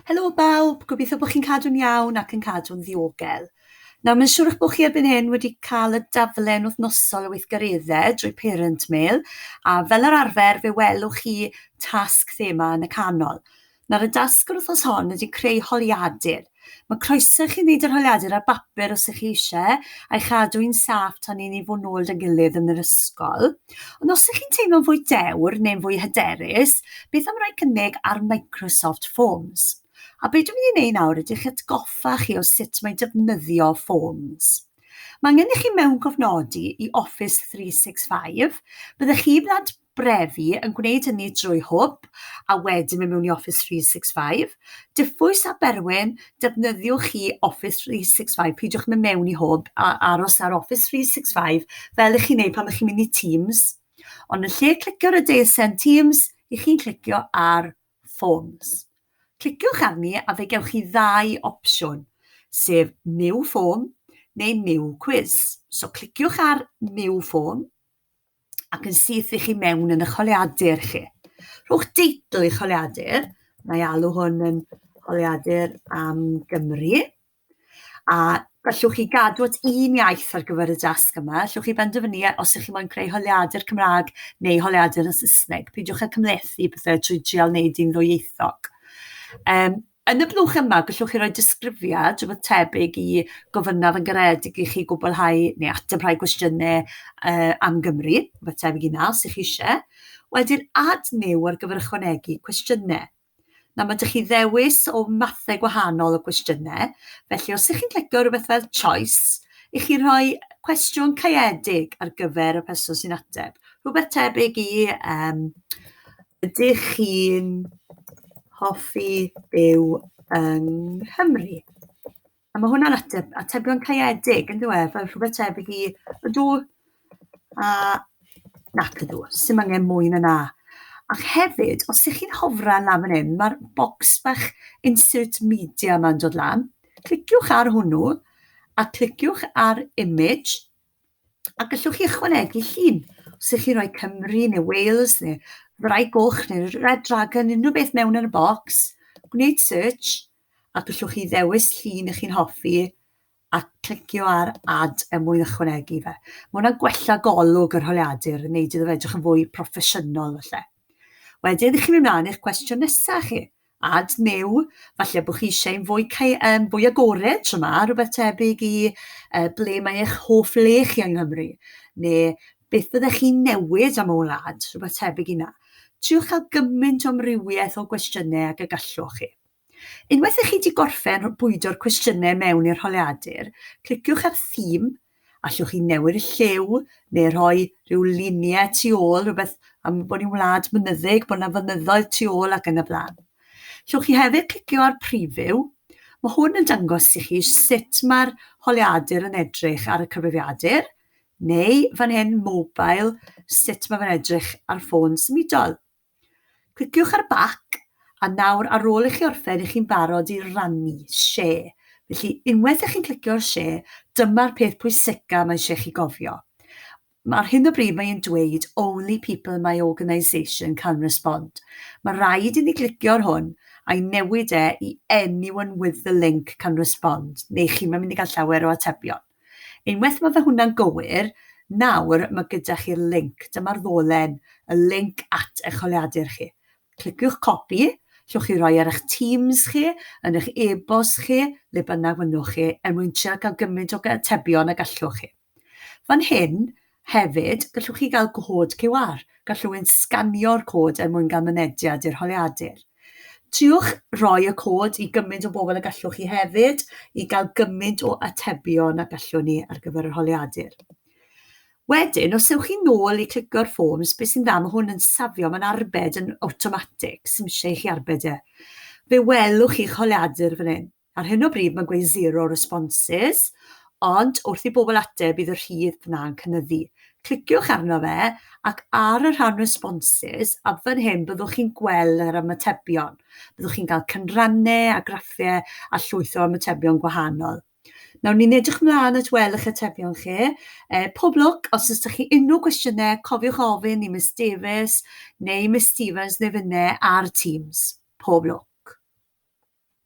Helo bawb, gobeithio bod chi'n cadw'n iawn ac yn cadw'n ddiogel. Nawr, mae'n siŵr eich bod chi erbyn hyn wedi cael y daflen wythnosol o weithgareddau drwy Parent Mail, a fel yr arfer, fe welwch chi tasg thema yn y canol. Nawr, y dasg yr wythnos hon ydy creu holiadur. Mae croeso i chi wneud yr holiadur ar bapur os ych chi eisiau, a'i chadw hi'n saff tan i ni fod nôl 'da gilydd yn yr ysgol. Ond os ydych chi'n teimlo'n fwy dewr neu'n fwy hyderus, beth am roi cynnig ar Microsoft Forms? A beth dwi'n mynd i wneud nawr ydych atgoffa chi o sut mae defnyddio Forms. Mae angen i chi mewn gofnodi i Office 365, byddech chi wlad brefi yn gwneud hynny drwy hwb a wedyn mynd mewn i Office 365. Diffwys a Berwyn, defnyddiwch chi Office 365, peidiwch mynd mewn i hwb a aros ar Office 365 fel ych chi'n neud pan ych chi'n mynd i Teams. Ond yn lle clicio ar y deisen Teams, ych chi'n clicio ar Forms. Cliciwch arni a fe gewch chi ddau opsiwn, sef New Form neu New Quiz. So cliciwch ar New Form, ac yn syth i chi mewn yn y choliadur chi. Rhowch deitl i choliadur, mae alw hwn yn choliadur am Gymru, a gallwch chi gadw at un iaith ar gyfer y dasg yma. Allwch chi benderfynu e, os ydych chi'n moyn creu holiadur Cymraeg neu holiadur yn Saesneg. Peidiwch â cymlethu pethau trwy trial wneud un ddwyieithog. Um, Yn y blwch yma, gallwch chi roi disgrifiad rhywbeth tebyg i gofynnaf yn garedig i chi gwblhau neu ateb rhai cwestiynau uh, am Gymru, rhywbeth tebyg i na, os ych chi eisiau. Wedyn, add new ar gyfer ychwanegu cwestiynau. Na, mae ydych chi ddewis o mathau gwahanol o gwestiynau, felly os ydych chi'n clicio rhywbeth fel choice, i chi rhoi cwestiwn caeedig ar gyfer y person sy'n ateb. Rhywbeth tebyg i, um, ydych chi'n hoffi byw yng Nghymru? A mae hwnna'n ateb, atebion caeedig, yn dweud, fel rhywbeth tebyg i ydw a nac ydw, sy'n angen mwy na na. Ac hefyd, os ydych chi'n hofran lan fan hyn, mae'r bocs bach insert media yma'n dod lan. Cliciwch ar hwnnw a cliciwch ar image A gallwch chi ychwanegu llun os ydych chi'n rhoi Cymru neu Wales neu Rai Goch neu Red Dragon, unrhyw beth mewn yn y bocs, gwneud search a gallwch chi ddewis llun ych chi'n hoffi a clicio ar add er mwyn ychwanegu fe. Mae hwnna'n gwella golwg yr holiadur, yn neud iddo fe edrych yn fwy proffesiynol falle. Wedyn, chi'n mynd mlaen i'ch cwestiwn nesaf chi. Ad neu falle bod chi eisiau un fwy, um, fwy agored tro yma, rhywbeth tebyg i uh, ble mae eich hoff le chi yng Nghymru, neu beth byddech chi'n newid am y wlad, rhywbeth tebyg i na. Triwch cael gymaint o amrywiaeth o gwestiynau ag y gallwch chi. Unwaith ych chi wedi gorffen bwydo'r cwestiynau mewn i'r holiadur, cliciwch ar theme Allwch chi newid y lliw neu rhoi rhyw luniau tu ôl, rhywbeth am bod ni'n wlad mynyddig, bod yna fynyddoedd tu ôl ac yn y blaen. Llwch chi hefyd clicio ar preview. Mae hwn yn dangos i chi sut mae'r holiadur yn edrych ar y cyfrifiadur, neu fan hyn, mobile, sut mae fe'n edrych ar ffôn symudol. Cliciwch ar Back, a nawr ar ôl i chi orffen i chi'n barod i rannu, Share. Felly, unwaith i chi'n clicio ar Share, dyma'r peth pwysica mae eisiau chi gofio. Ar hyn o bryd mae e'n dweud Only people in my organisation can respond. Mae rhaid i ni glicio ar hwn a'i newid e i Anyone with the link can respond, neu chi'm yn mynd i gael llawer o atebion. Unwaith mae fe hwnna'n gywir, nawr mae gyda chi'r linc, dyma'r ddolen, y linc at eich holiadur chi. Cliciwch copy, llwch chi roi ar eich Teams chi, yn eich e-bost chi, le bynnag fynnwch chi, er mwyn trio cael gymaint o atebion ag allwch chi. Fan hyn, Hefyd, gallwch chi gael cod QR. Gall rhywun sganio'r cod er mwyn gael mynediad i'r holiadur. Triwch roi y cod i gymaint o bobl y gallwch chi hefyd i gael gymaint o atebion a gallwn ni ar gyfer yr holiadur. Wedyn, os ewch chi nôl i clicio'r forms, beth sy'n dda, mae hwn yn safio, mae'n arbed yn awtomatig, sy'n eisiau i chi arbed e. Fe welwch chi'ch holiadur fan hyn. Ar hyn o bryd mae'n gweud zero responses, ond wrth i bobl ateb bydd y rhif yna'n cynyddu. Cliciwch arno fe ac ar y rhan responses a fan hyn byddwch chi'n gweld yr ymatebion. Byddwch chi'n cael cynrannau a graffiau a llwyth o ymatebion gwahanol. Nawr ni'n edrych ymlaen at weld eich atebion chi. E, pob lwc, os ydych chi unrhyw gwestiynau, cofiwch ofyn i Miss Davies neu Miss Stevens neu fynne ar Teams. Pob lwc.